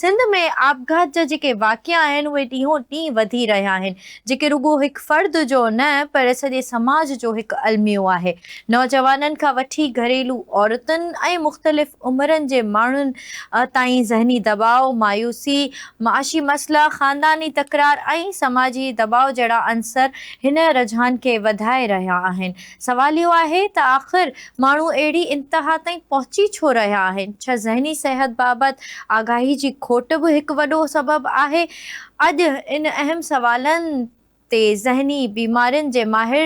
سنڌ ۾ آپگهات جا جيڪي واقعا آهن اهي ڏينهون ڏينهن وڌي رهيا آهن جيڪي رڳو هڪ فرد جو نه پر سڄي سماج جو هڪ الميو آهي نوجوانن کان وٺي گهريلو عورتن ۽ مختلف عمرن جي ماڻهن تائين ذهني دٻاء، مايوسي، معاشي مسئلا، خانداني تڪرار ۽ سماجي دٻاء جهڙا عنصر هن رجحان کي وڌائي رهيا آهن. سوال اهو آهي ته آخر ماڻهو اهڙي انتها تائين پهچي ڇو رهيا آهن؟ ڇا ذهني صحت بابت آگاهي جي کوٽ به هڪ وڏو سبب آهي؟ اڄ ان اهم سوالن تي ذهني بيمارين جي ماهر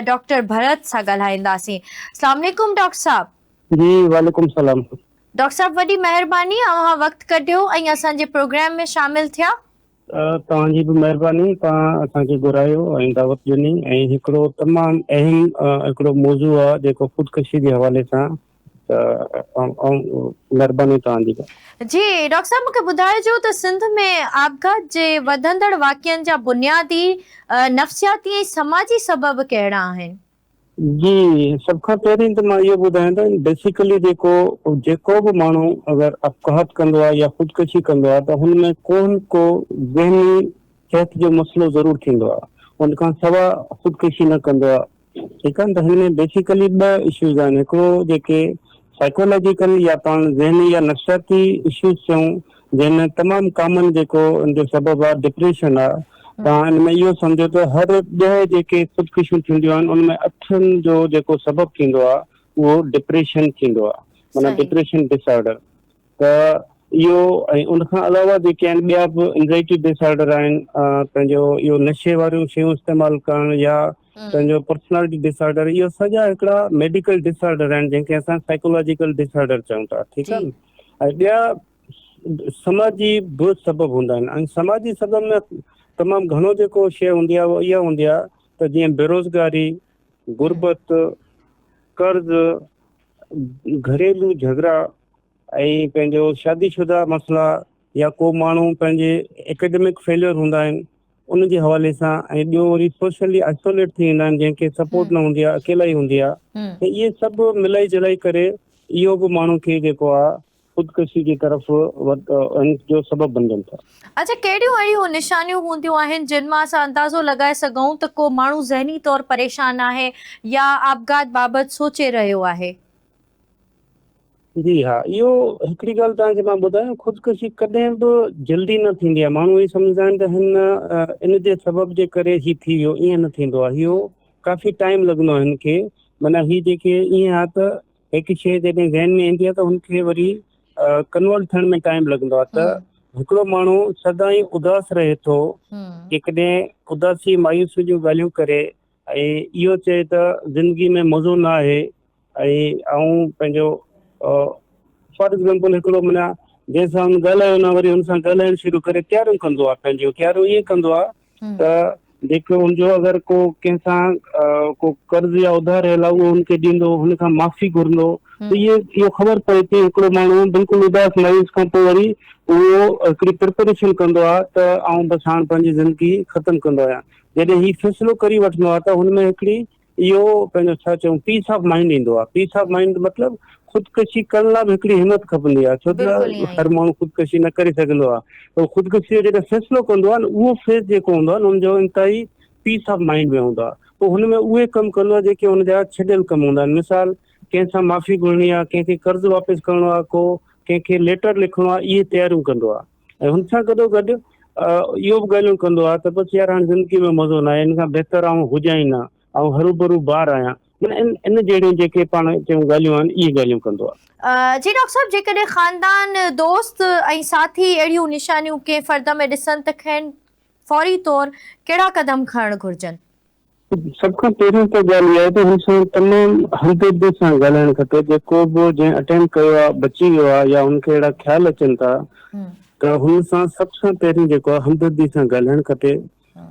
ڊاڪٽر ڀرت سان ڳالهائينداسين. اسلام عليڪم ڊاڪٽر صاحب. جي وعليڪم السلام. ڊاڪٽر صاحب وڏي مهرباني اوهان وقت ڪڍيو ۽ اسان جي پروگرام ۾ شامل ٿيا. توهان جي به مهرباني توهان اسان کي گهرايو ۽ دعوت ڏني ۽ هڪڙو تمام اهم هڪڙو موضوع آ جيڪو خودڪشي جي حوالي سان ته مهرباني توهان جي. جي ڊاڪٽر صاحب مونکي ٻڌائجو ته سنڌ ۾ آپگهات جي وڌندڙ واقعن جا بنيادي نفسياتي ۽ سماجي سبب ڪهڙا آهن؟ جي سڀ کان پهرين ته مان اهو ٻڌايان ته بيسيڪلي جيڪو جيڪو به ماڻهو اگر اپگهات ڪندو آهي يا خودڪشي ڪندو آهي ته هن ۾ ڪو نه ڪو ذهني صحت جو مسئلو ضرور ٿيندو آهي ان کان سوا خودڪشي نه ڪندو آهي ٺيڪ آهي ته هن ۾ بيسيڪلي ٻه اشوز آهن هڪڙو جيڪي سائيڪولاجيڪل يا پاڻ ذهني يا نفسياتي اشوز چئون جنهن ۾ تمام ڪامن جيڪو ان جو سبب آ ڊپريشن آ تان ان ۾ اهو سمجهو ته هر ڏهه جيڪي خودڪشيون ٿينديون آهن ان ۾ اٺن جو جيڪو سبب ٿيندو آ اهو ڊپريشن ٿيندو آ معنيٰ صحيح ڊپريشن ڊس آرڊر ته اهو ۽ ان کان علاوه جيڪي آهن ٻيا به انزائٽي ڊس آرڊر آهن پنهنجو اهو نشي واريون شيون استعمال ڪرڻ يا امم پنهنجو پرسنالٽي ڊس آرڊر اهي سڄا هڪڙا ميڊيڪل ڊس آرڊر آهن جنهن کي اسان سائڪولاجيڪل ڊس آرڊر چئون ٿا ٺيڪ جي آ نه ۽ ٻيا سماجي به سبب هوندا آهن ۽ سماجي سبب ۾ تمام گهڻو جيڪو شيء هوندي آهي اها اها هوندي آهي ته جيئن بيروزگاري، ھمم غربت، قرض، گهريلو جھڳڙا ۽ پنهنجو شادي شده مسئلا يا ڪو ماڻهو پنهنجي اڪيڊمڪ فيليور هوندا آهن. ان جي حوالي سان ۽ ٻيو وري سوشلي آئسوليٽ ٿي ويندا آهن جنهن کي سپورٽ نه هوندي آهي اڪيلائي هوندي آهي ته اهي سڀ ملائي جلائي ڪري اهو به ماڻهو کي جيڪو آهي خودڪشي جي طرف جو سبب بنجن ٿا. اچا ڪهڙيون اهڙيون نشانيون هونديون آهن جن مان اسان اندازو لڳائي سگهون ته ڪو ماڻهو ذهني طور پريشان آهي يا آپگهات بابت سوچي رهيو آهي؟ جي ها اهو هڪڙي ڳالهه توهان کي مان ٻڌايان خودڪشي ڪڏهن به جلدي نه ٿيندي آهي ماڻهو هي سمجهندا آهن ته هن ان جي سبب جي ڪري هي ٿي ويو ائين نه ٿيندو آهي اهو ڪافي ٽائم لڳندو آهي هن کي معنيٰ هي جيڪي ائين آهي ته هڪ شيء جڏهن ذهن ۾ ايندي آهي ته هن کي وري ڪنورٽ ٿيڻ ۾ ٽائم لڳندو آهي ته هڪڙو ماڻهو سدائين اداس رهي ٿو جيڪڏهن اداسي مايوسي جون ڳالهيون ڪري ۽ اهو چئي ته زندگي ۾ مزو نه آهي ۽ آئون پنهنجو فار ايگزامپل هڪڙو مڃان جنهن سان هن ڳالهايو نه وري هن سان ڳالهائڻ شروع ڪري تياريون ڪندو آهي پنهنجو تياريون ائين ڪندو آهي ته جيڪو هن جو اگر ڪو ڪنهن سان ڪو قرض يا اڌار هيل آهي اهو هن کي ڏيندو هن کان معافي گهرندو ته اهي اهو خبر پئي ٿي هڪڙو ماڻهو بلڪل اداس مايوس کان پوء وري اهو هڪڙي پرپريشن ڪندو آهي ته آئون بس هاڻ پنهنجي زندگي ختم ڪندو آهيان جڏهن هي فيصلو ڪري وٺندو آهي ته هن ۾ هڪڙي اهو پنهنجو ڇا چئون پيس آف مائنڊ ايندو آهي، پيس آف مائنڊ مطلب خودڪشي ڪرڻ لاء به هڪڙي همت کپندي آهي ڇو ته هر ماڻهو خودڪشي نه ڪري سگهندو آهي پر خودڪشي جو جڏهن فيصلو ڪندو آهي نه اهو فيز جيڪو هوندو آهي نه هن جو انتهائي پيس آف مائنڊ ۾ هوندو آهي پوء هن ۾ اهي ڪم ڪندو آهي جيڪي هن جا ڇڏيل ڪم هوندا آهن مثال ڪنهن سان معافي گهرڻي آهي ڪنهن کي قرض واپس ڪرڻو آهي ڪو ڪنهن کي ليٽر لکڻو آهي اهي تياريون ڪندو آهي. ۽ هن سان گڏو گڏ اهو به ڳالهيون ڪندو آهي ته بس يار هاڻي زندگي ۾ مزو ناهي ان کان بهتر آء هجان ئي نه آئون هروڀرو بار آهيان معنيٰ ان ان جهڙيون جيڪي پاڻ چيون ڳالهيون آهن اهي ڳالهيون ڪندو آهي. جي ڊاڪٽر صاحب جيڪڏهن خاندان، دوست ۽ ساٿي اهڙيون نشانيون ڪنهن فرد ۾ ڏسن ته کين فوري طور ڪهڙا قدم کڻڻ گهرجن؟ سڀ کان پهريون ته ڳالهه اها آهي ته هن سان تمام همدردي سان ڳالهائڻ کپي، جيڪو به جنهن اٽيمپ ڪيو آهي بچي ويو آهي يا هن کي اهڙا خيال اچن ٿا ته هن سان سڀ کان پهريون جيڪو آهي همدردي سان ڳالهائڻ کپي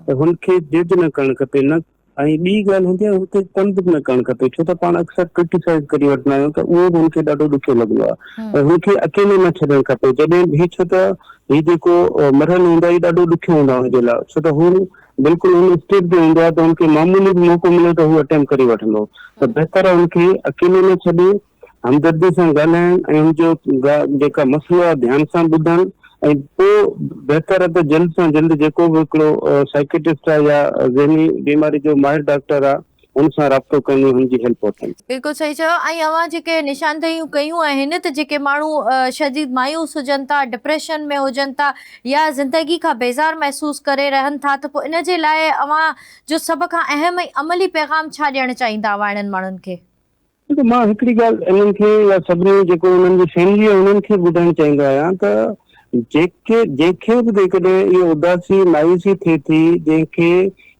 ته هن کي جج نه ڪرڻ کپي نه ۽ ٻي ڳالهه هوندي آهي هن کي تنگ به نه ڪرڻ کپي ڇو ته پاڻ اڪثر ڪرٽيسائز ڪري وٺندا آهيون ته اهو به هن کي ڏاڍو ڏکيو لڳندو آهي ۽ هن کي اڪيلو نه ڇڏڻ کپي جڏهن هي ڇو ته هي جيڪو مرحلو هوندا هي ڏاڍو ڏکيو هوندا هن جي لاء ڇو ته هو بلڪل ان اسٽيج تي هوندو آهي ته ان کي معمولي به موقعو ملي ته هو اٽيمپ ڪري وٺندو ته بهتر آهي ان کي اڪيلو نه ڇڏي همدردي سان ڳالهائڻ ۽ ان جو جيڪا مسئلو آهي ڌيان سان ٻڌڻ ۽ پوء بهتر آهي ته جلد سان جلد جيڪو به هڪڙو سائڪيٽسٽ آهي يا ذهني بيماري جو ماهر ڊاڪٽر آهي هن سان رابطو ڪن ۽ هن جي هيلپ وٺن. بلڪل صحيح چيو ۽ اوهان جيڪي نشاندهيون ڪيون آهن ته جيڪي ماڻهو شديد مايوس هجن ٿا ڊپريشن ۾ هجن ٿا يا زندگي کان بيزار محسوس ڪري رهن ٿا ته پوء ان جي لاء اوهان جو سڀ کان اهم ۽ عملي پيغام ڇا ڏيڻ چاهيندا اوهان اهڙن ماڻهن کي. ڏسو مان هڪڙي ڳالهه انهن کي يا سڀني جيڪو انهن جي فيملي آهي انهن کي ٻڌائڻ چاهيندو آهيان ته جيڪي جنهن کي به جيڪڏهن اهو اداسي مايوسي ٿئي ٿي جنهن کي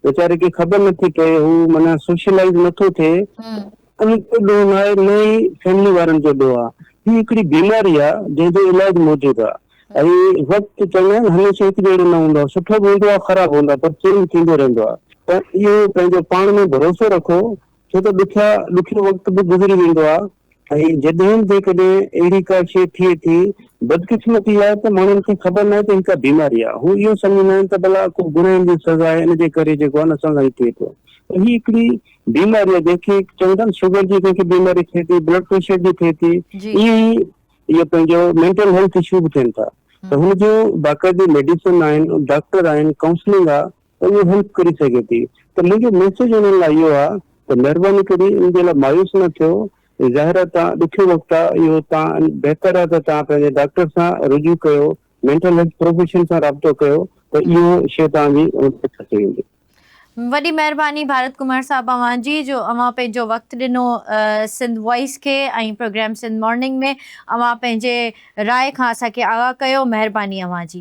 ويچاري کي خبر نٿي پئي هو معنيٰ سوشلائز نٿو ٿئي ان جو ڏوهه نه آهي نه ئي فيملي وارن جو ڏوهه آهي هي هڪڙي بيماري آهي جنهن جو علاج موجود آهي ۽ وقت چوندا آهن هميشه هڪ جهڙو نه هوندو آهي سٺو به هوندو آهي خراب هوندو آهي پر چينج ٿيندو رهندو آهي ته اهو پنهنجو پاڻ ۾ ڀروسو رکو ڇو ته ڏکيا ڏکيو وقت به گذري ويندو آ ۽ جڏهن جيڪڏهن اهڙي ڪا شيء ٿئي ٿي، بدقسمتي اها آهي ته ماڻهن کي خبر ناهي ته هي ڪا بيماري آ، هو اهو سمجهندا آهن ته ڀلا ڪو گناهن جي سزا آهي ان جي ڪري جيڪو آ نه اسان سان هي ٿئي ٿو ته هي هڪڙي بيماري آ جنهن کي چون ٿا نه شگر جي ڪنهن کي بيماري ٿئي ٿي، بلڊ پريشر جي ٿئي ٿي، جي. ائين ئي اهي پنهنجو مينٽل هيلٿ اشو به ٿين ٿا ته هن جون باقاعدي ميڊيسن آهن، ڊاڪٽر آهن، ڪائونسلنگ آ ته اهو هيلپ ڪري سگهي ٿي ته منهنجو ميسيج انهن لاء اهو آهي ته مهرباني ڪري ان جي لاء مايوس نه ٿيو ظاهر آهي ته ڏکيو وقت آهي اهو تان بهتر آهي ته تان پنهنجي ڊاڪٽر سان رجوع ڪيو مينٽل هيلٿ پروفيشن سان رابطو ڪيو ته اهو شي تان جي بهتر ٿي ويندي. وڏي مهرباني ڀارت ڪمار صاحب اوهان جي جو اوهان پنهنجو وقت ڏنو سنڌ وائس کي ۽ پروگرام سنڌ مارننگ ۾ اوهان پنهنجي راء کان اسان کي آگاهه ڪيو مهرباني اوهان جي.